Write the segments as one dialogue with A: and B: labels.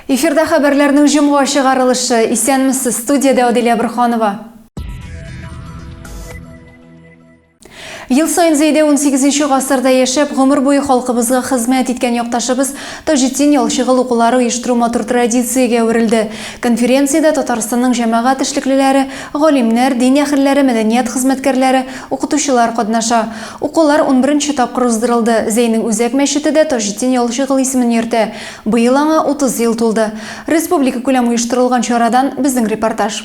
A: Эфирда хәбәрләрнең җомга чыгарылышы. Исәнмесез, студиядә Аделя Бурханова. Ел саен Зәйдә 18 нче гасырда яшәп, гомер буе халкыбызга хезмәт иткән якташыбыз Таҗетдин Ялчыгыл укулары оештыру матур традициягә әверелде. Конференциядә Татарстанның җәмәгать эшлеклеләре, галимнәр, дин әһелләре, мәдәният хезмәткәрләре, укытучылар катнаша. Укулар унберенче тапкыр уздырылды. Зәйнең үзәк мәчете дә Таҗетдин Ялчыгыл исемен йөртә. Быел аңа 30 ел тулды. Республикакүләм оештырылган чарадан безнең репортаж.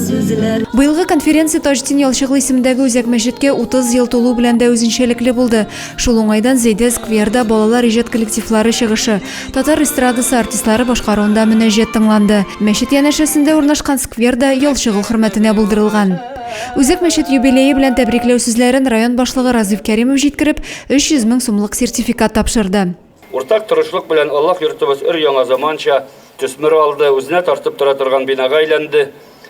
A: Быелгы конференция Таҗтин Ялчыгыл исемендәге үзәк мәчеткә 30 ел тулу белән дә үзенчәлекле булды. Шул уңайдан Зәйдә скверда балалар иҗат коллективлары чыгышы, татар эстрадасы артистлары башкаруында мөнәҗәт тыңланды. Мәчет янәшәсендә урнашкан сквер да Ялчыгыл хөрмәтенә булдырылган. Үзәк мәчет юбилее белән тәбрикләү сүзләрен район башлыгы Разыйф Кәримов җиткереп, 300 мең сумлык сертификат тапшырды. Уртак тырышлык
B: белән Аллаһ йортыбыз өр-яңа заманча төсмер алды, үзенә тартып тора торган бинага әйләнде.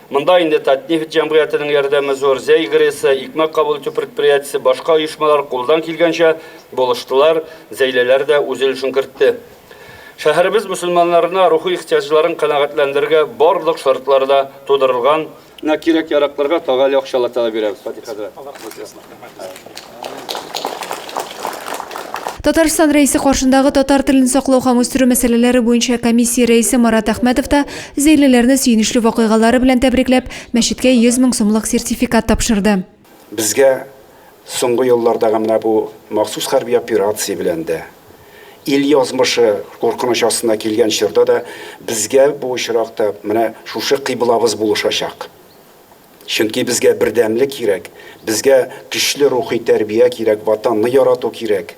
B: Монда инде Татнефть җәмгыятенең ярдәме зур, Зәй ГРЭСы, Икмәк кабул итү предприятиесе, башка оешмалар кулдан килгәнчә булыштылар, Зәйләләр дә үз өлешен кертте. Шәһәребез мөселманнарына рухи ихтыяҗларын канәгатьләндерергә барлык шартлар да тудырылган, На кирәк яракларга тагы әле акчалата да бирәбез фатихада.
A: Татарстан рәисе каршындагы татар телен саклау һәм үстерү мәсьәләләре буенча комиссия рәисе Марат Әхмәтов та зәйлеләрне сөенечле вакыйгалары белән тәбрикләп, мәчеткә 100 мең сумлык сертификат тапшырды. Безгә
C: соңгы еллардагы менә бу махсус хәрби операция белән дә, ил язмышы куркыныч астына килгән чорда да безгә бу очракта менә шушы кыйблабыз булышачак. Чөнки безгә бердәмлек кирәк, безгә көчле рухи тәрбия кирәк, Ватанны ярату кирәк.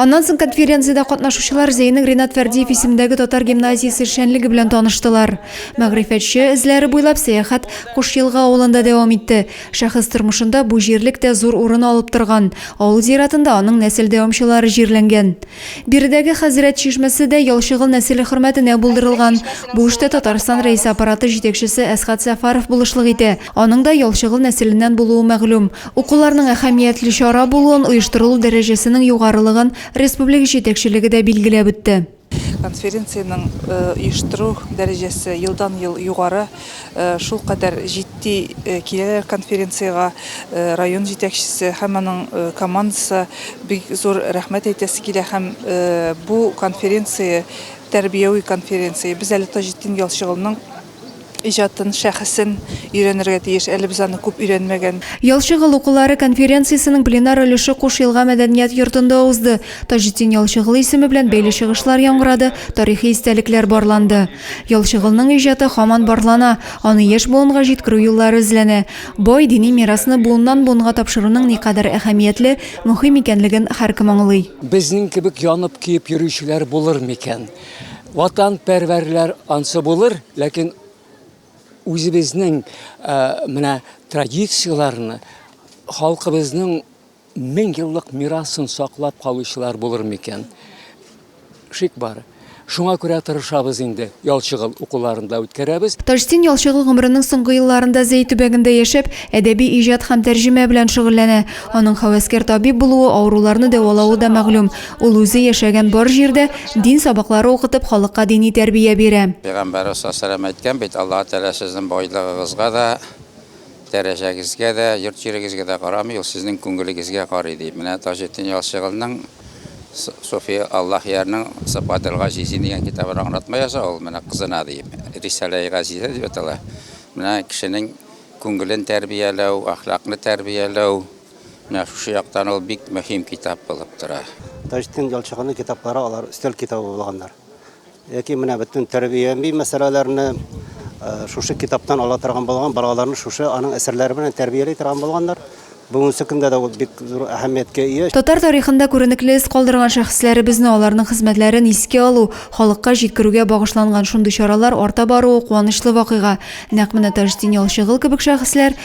A: Аннан соң конференциядә катнашучылар Зәйнең Ринат Фәрдиев исемендәге татар гимназиясе эшчәнлеге белән таныштылар. Мәгърифәтче эзләре буйлап сәяхәт Кушъелга авылында дәвам итте. Шәхес тормышында бу җирлек тә зур урын алып торган. Авыл зиратында аның нәсел дәвамчылары җирләнгән. Биредәге Хәзрәт чишмәсе дә Ялчыгыл нәселе хөрмәтенә булдырылган. Бу эштә Татарстан Рәисе Аппараты җитәкчесе Әсхат Сәфаров булышлык итә. Аның да Ялчыгыл нәселеннән булуы мәгълүм. Укуларның әһәмиятле чара булуын, оештырылу дәрәҗәсенең югарылыгын республика җитәкчелеге дә билгеләп үтте. Конференциянең
D: оештыру дәрәҗәсе елдан-ел югары. Шулкадәр җитди киләләр конференциягә район җитәкчесе һәм аның командасы. Бик зур рәхмәт әйтәсе килә һәм бу конференция, тәрбияви конференция. Без әле Таҗетдин Ялчыгылның иҗатын, шәхесен өйрәнергә тиеш, әле без аны күп өйрәнмәгән. Ял чыгыл укулары
A: конференциясенең пленар өлеше Куш Елга мәдәният йортында узды. Таҗетдин Ялчыгылы исеме белән бәйле чыгышлар яңгырады, тарихи истәлекләр барланды. Ял чыгылның иҗаты һаман барлана, аны яшь буынга җиткерү юллары эзләнә. Бай дини мирасны буыннан-буынга тапшыруның никадәр әһәмиятле, мөһим икәнлеген һәркем аңлый. Безнең кебек
E: янып-көеп йөрүчеләр булыр микән? Ватанпәрвәрләр ансы булыр, ләкин үзебезнең менә традицияләрне, халкыбызның мең еллык мирасын саклап калучылар булыр микән? Шик бар. Шуңа күрә тырышабыз инде, Ялчыгыл укуларында үткәрәбез. Таҗтин Ялчыгыл
A: гомеренең соңгы елларында Зәй төбәгендә яшәп, әдәби иҗат һәм тәрҗемә белән шөгыльләнә. Аның һәвәскәр табиб булуы, авыруларны дәвалавы да мәгълүм. Ул үзе яшәгән бар җирдә дин сабаклары укытып, халыкка дини тәрбия бирә.
F: Пәйгамбәребез саллаллаһу
A: әйткән
F: бит, Аллаһ Тәгалә сезнең байлыгыгызга да, дәрәҗәгезгә дә, йорт-җирегезгә дә карамый, ул сезнең күңелегезгә карый, ди. Менә Таҗетдин Ялчыгылның Суфи Аллаһ ярның Сыпател Газизин дигән китабын аңлатма яза ул, менә кызына, ди. Рисаләи Газизә дип атала. Менә кешенең күңелен тәрбияләү, әхлакны тәрбияләү, Менә шушы яктан ул бик мөһим китап булып тора. Таҗетдин Ялчыганның
G: китаплары алар өстәл китабы булганнар. Яки менә бөтен тәрбияви мәсьәләләрне шушы китаптан ала торган булган, балаларны шушы аның әсәрләре белән тәрбияли торган булганнар. Бүгенге көндә дә ул бик зур әһәмияткә ия. Татар тарихында күренекле
A: эз калдырган шәхесләребезне, аларның хезмәтләрен искә алу, халыкка җиткерүгә багышланган шундый чаралар арта баруы куанычлы вакыйга. Нәкъ менә Таҗетдин Ялчыгыл кебек шәхесләр,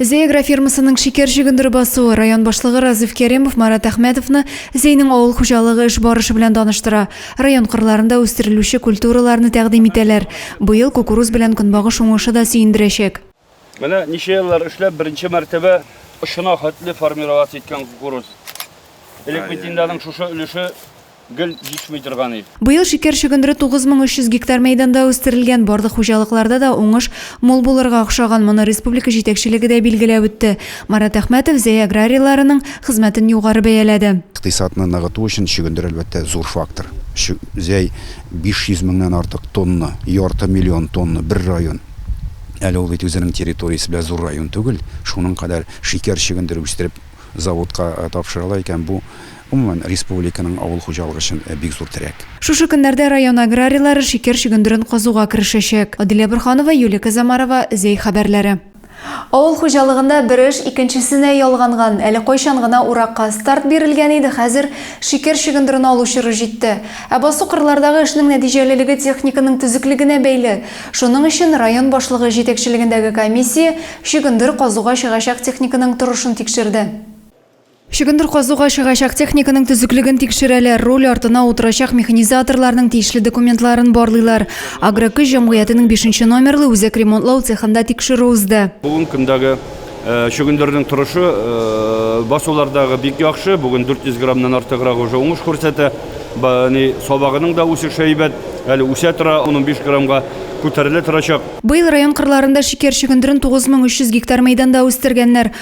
A: Зеагра фермасының шикәр чөгендере басуы район башлыгы Разыйф Кәремов Марат Әхмәтовны Зәйнең авыл хуҗалыгы эш барышы белән таныштыра. Район кырларында үстерелүче культураларны тәкъдим итәләр. Быел кукуруз белән көнбагыш уңышы да сөендерәчәк. Менә ничә
B: еллар эшләп, беренче мәртәбә очына хәтле формироваться иткән кукуруз. Элек бит инде аның шушы өлеше гел җитми торган ил. Быел шикәр чөгендере 9300
A: гектар мәйданда үстерелгән. Барлык хуҗалыкларда да уңыш мул булырга охшаган, моны республика җитәкчелеге дә билгеләп үтте. Марат Әхмәтов Зәй аграрийларының хезмәтен югары бәяләде. Икътисадны ныгыту
C: өчен чөгендер, әлбәттә, зур фактор. Зәй 500 меңнән артык тонна, ярты миллион тонна, бер район. Әле ул бит үзенең территориясе белән зур район түгел. Шуның кадәр шикәр чөгендере үстереп, заводка тапшыралар икән, бу Гомумән, республиканың авыл хуҗалыгы өчен бик зур терәк. Шушы көннәрдә район
A: аграрийлары шикәр чөгендерен казуга керешәчәк. Аделя Борханова, Юлия Козомарова, Зәй хәбәрләре. Авыл хуҗалыгында бер эш икенчесенә ялганган. Әле кайчан гына уракка старт бирелгән иде, хәзер шикәр чөгендерен алу чоры җитте. Ә басу-кырлардагы эшнең нәтиҗәлелеге техниканың төзеклегенә бәйле. Шуның өчен район башлыгы җитәкчелегендәге комиссия чөгендер казуга чыгачак техниканың торышын тикшерде. Чөгендер казуга чыгачак техниканың төзеклеген тикшерәләр, руль артына утырачак механизаторларның тиешле документларын барлыйлар. Агрокөч җәмгыятенең бишенче номерлы үзәк ремонтлау цехында тикшерү узды. Бүгенге көндәге
B: чөгендернең торышы басулардагы бик яхшы, бүген 400 граммнан артыграк уже уңыш күрсәтә. Сабагының да үсеше әйбәт, әле үсә тора, ун-унбиш граммга күтәрелә торачак. Быел район кырларында
A: шикәр чөгендерен 9300 гектар мәйданда үстергәннәр.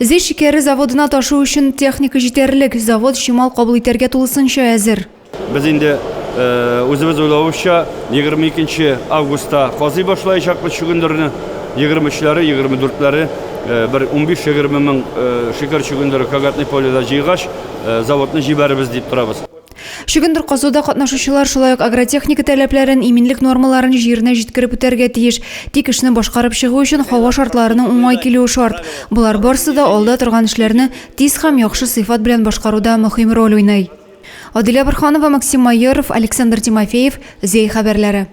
H: Зөй шикәре
A: заводына ташу өчен техника җитәрлек, завод чимал кабул итәргә тулысынча әзер. Без инде
B: үзебез уйлавыбызча, 22 нче августта казый башлаячакбыз чөгендерне, 23-ләре, 24-ләре бер унбиш-егерме мең шикәр чөгендере Кагатный поледа җыйгач, заводны җибәрербез дип торабыз. Чөгендер
A: казуда катнашучылар шулай ук агротехника таләпләрен, иминлек нормаларын җиренә җиткереп үтәргә тиеш. Тик эшне башкарып чыгу өчен һава шартларының уңай килүе шарт. Болар барсы да алда торган эшләрне тиз һәм яхшы сыйфат белән башкаруда мөһим роль уйный. Адилә Борһанова, Максим Майоров, Александр Тимофеев, Зәй хәбәрләре.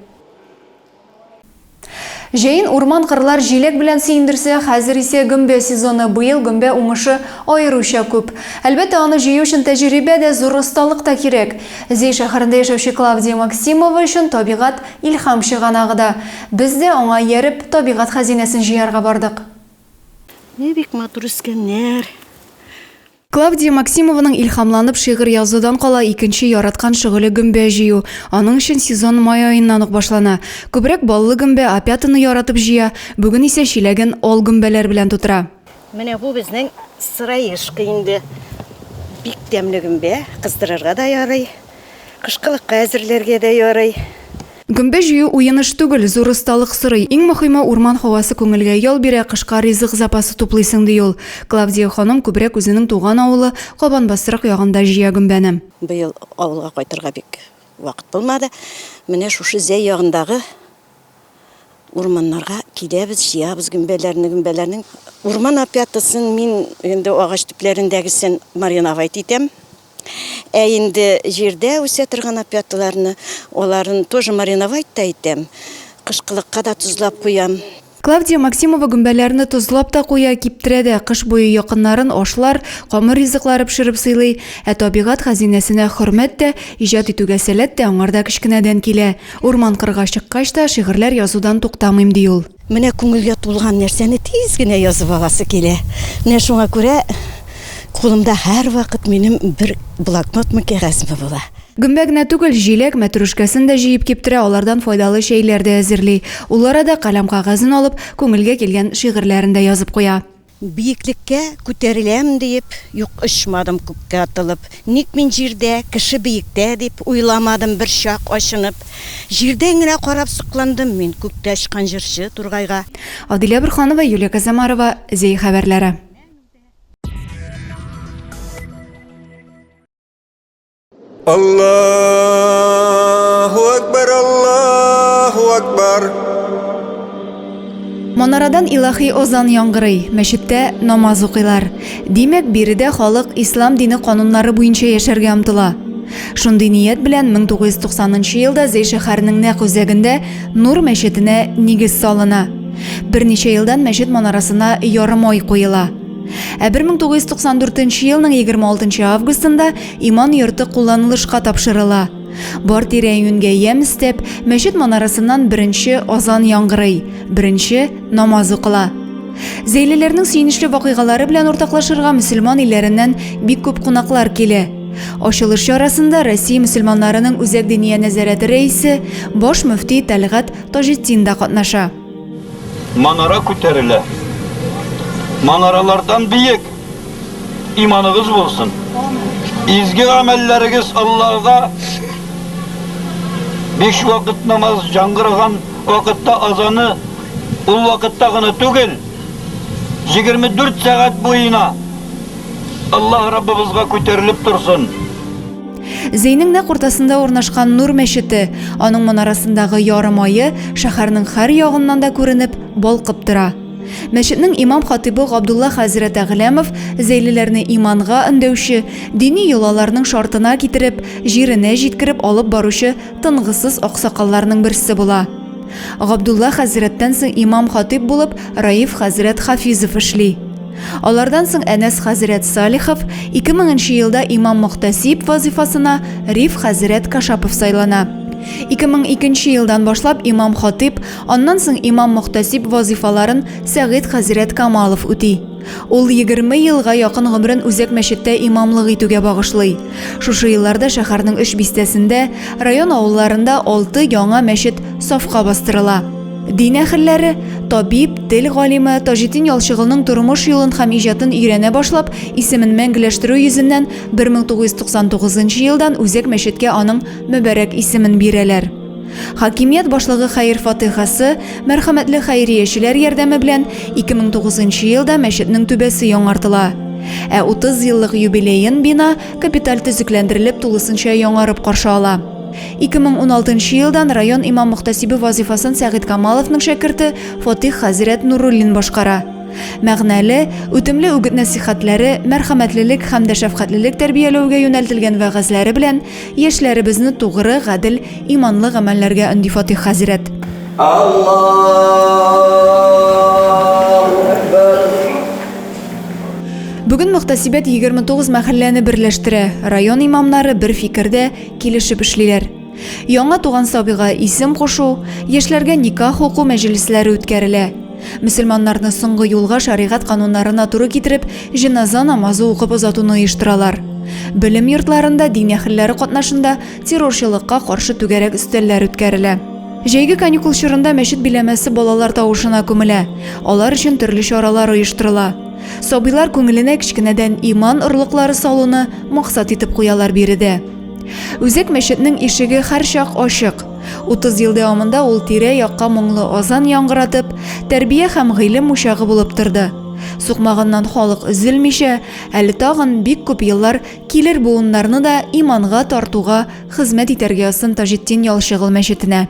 A: Җәен урман-кырлар җиләк белән сөендерсә, хәзер исә гөмбә сезоны, быел гөмбә уңышы аеруча күп. Әлбәттә, аны җыю өчен тәҗрибә дә, зур осталык та кирәк. Зәй шәһәрендә яшәүче Клавдия Максимова өчен табигать, илһам чыганагы да. Без дә, аңа ияреп, табигать хәзинәсен җыярга бардык. Ни
I: бик матур үскәннәр!
A: Клавдия Максимованың илһамланып шигырь язудан кала икенче яраткан шөгыле гөмбә җыю. Аның өчен сезон май аеннан ук башлана. Күбрәк баллы гөмбә, опятаны яратып җыя, бүген исә чиләген ал гөмбәләр белән тутыра. Менә бу безнең
I: сыраешка инде. Бик тәмле гөмбә, кыздырырга да ярый. Кышкылыкка әзерләргә дә ярый. Гөмбә җыю
A: уен эш түгел, зур осталык сорый. Иң мөхиме, урман һавасы күңелгә ял бирә, кышка ризык запасы туплыйсың, ди ул. Клавдия ханым күбрәк үзенең туган авылы Кабанбастрык ягында җыя гөмбәне. Быел авылга
I: кайтырга бик вакыт булмады. Менә шушы Зәй ягындагы Урманнарга киләбез, җыябыз гөмбәләрне, гөмбәләрнең урман опятасын мин инде агач төпләрендәгесен мариновать итәм. Ә инде җирдә үсә торган опяталарны, аларын тоже мариновать та итәм, кышкылыкка да тозлап куям. Клавдия Максимова
A: гөмбәләрне тозлап та куя, киптерә дә, кыш буе якыннарын ашлар, камыр ризыклары пешереп сыйлый. Ә табигать хәзинәсенә хөрмәт тә, иҗат итүгә сәләт тә аңарда кечкенәдән килә. Урман-кырга чыккач та, шигырьләр язудан туктамыйм, ди ул. Менә күңелгә тулган
I: нәрсәне тиз генә язып аласы килә. Менә шуңа күрә кулымда һәрвакыт минем бер блокнотмы, кәгазьме була. Гөмбә генә түгел,
A: җиләк, мәтрүшкәсен дә җыеп киптерә, алардан файдалы чәйләр дә әзерли. Ул арада каләм-кәгазен алып, күңелгә килгән шигырьләрен дә язып куя. Биеклеккә
I: күтәреләм диеп, юк очмадым күккә атылып. Ник мин җирдә, кеше биектә дип, уйламадым берчак ачынып. Җирдән генә карап сокландым мин күктә очкан җырчы Тургайга. Адилә Борһанова,
A: Юлия Козомарова, Зәй хәбәрләре.
J: Аллаху Акбар, Аллаху Акбар.
A: Манарадан илаһи озан яңгырый, мәчеттә намаз укыйлар. Димәк, биредә халык ислам дине кануннары буенча яшәргә омтыла. Шундый ният белән 1990 елда Зәй шәһәренең нәкъ үзәгендә Нур мәчетенә нигез салына. Берничә елдан мәчет манарасына ярым ай куела. Ә 1994 елның 26 августында Иман йорты кулланылышка тапшырыла. Бар тирә-юньгә ямь өстәп, мәчет манарасыннан беренче азан яңгырый, беренче намаз укыла. Зәйлеләрнең сөенечле вакыйгалары белән уртаклашырга мөселман илләреннән бик күп кунаклар килә. Ачылыш чарасында Россия мөселманнарының үзәк диния нәзарәте рәисе, баш мөфти Тәлгать Таҗетдин да катнаша. Манара
K: күтәрелә. Манаралардан биек! Иманыгыз булсын. Изге гамәлләрегез Аллага биш вакыт намаз яңгыраган вакытта азаны ул вакытта гына түгел, 24 сәгать буена Аллаһ Раббыбызга күтәрелеп торсын.
A: Зейнең нәкъ уртасында урнашкан Нур мәчете, аның манарасындагы ярым ае шәһәрнең һәр ягыннан да күренеп, балкып тора. Мәчетнең имам-хатыйбы Габдулла хәзрәт Әгъләмов зәйлеләрне иманга өндәүче, дини йолаларның шартына китереп, җиренә җиткереп алып баручы тынгысыз аксакалларның берсе була. Габдулла хәзрәттән соң имам-хатыйб булып Раиф хәзрәт Хафизов эшли. Алардан соң Әнәс хәзрәт Салихов, 2000 нче елда имам-мөхтәсиб вазыйфасына Риф хәзрәт Кашапов сайлана. 2002 нче елдан башлап имам-хатыйб, аннан соң имам-мөхтәсиб вазыйфаларын Сәгыйть хәзрәт Камалов үти. Ул егерме елга якын гомерен үзәк мәчеттә имамлык итүгә багышлый. Шушы елларда шәһәрнең өч бистәсендә, район авылларында алты яңа мәчет сафка бастырыла. Дин әһелләре, табиб, тел галиме Таҗетдин Ялчыгылның тормыш юлын һәм иҗатын өйрәнә башлап, исемен мәңгеләштерү йөзеннән 1999 елдан Үзәк мәчеткә аның мөбарәк исемен бирәләр. Хакимият башлыгы хәер фатыйхасы, мәрхәмәтле хәйриячеләр ярдәме белән 2009 елда мәчетнең түбәсе яңартыла. Ә 30 еллык юбилеен бина капиталь төзекләндерелеп, тулысынча яңарып каршы ала. 2016 нчы елдан район имам-мөхтәсибе вазыйфасын Сәгыйть Камаловның шәкерте Фатих хәзрәт Нуруллин башкара. Мәгънәле, үтемле үгет-нәсыйхәтләре, мәрхәмәтлелек һәм дә шәфкатьлелек тәрбияләүгә юнәлтелгән вәгазьләре белән яшьләребезне тугры, гадел, иманлы гамәлләргә өнди Фатих хәзрәт. Бүген мөхтәсибәт 29 мәхәлләне берләштерә, район имамнары бер фикердә, килешеп эшлиләр. Яңа туган сабыйга исем кушу, яшьләргә никах уку мәҗлесләре үткәрелә. Мөселманнарны соңгы юлга шәригать кануннарына туры китереп, җеназа намазы укып озатуны оештыралар. Белем йортларында дин әһелләре катнашында террорчылыкка каршы түгәрәк өстәлләр үткәрелә. Җәйге каникул чорында мәчет биләмәсе балалар тавышына күмелә. Алар өчен төрле чаралар оештырыла. Сабыйлар күңеленә кечкенәдән иман орлыклары салуны, Максат итеп куялар биредә. Үзәк мәчетнең ишеге һәрчак ачык. 30 ел дәвамында ул тирә-якка моңлы азан яңгыратып, тәрбия һәм гыйлем учагы булып торды. Сукмагыннан халык өзелмичә, әле тагын бик күп еллар килер буыннарны да иманга тартуга хезмәт итәргә язсын Таҗетдин Ялчыгыл мәчетенә.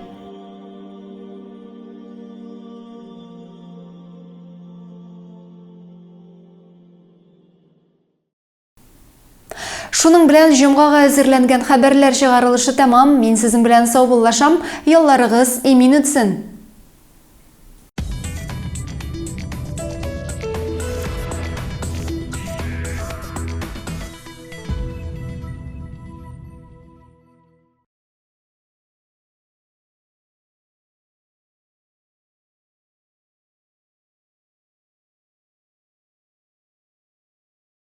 A: Шуның белән җомгага әзерләнгән хәбәрләр чыгарылышы тәмам. Мин сезнең белән саубуллашам. Ялларыгыз имин үтсен.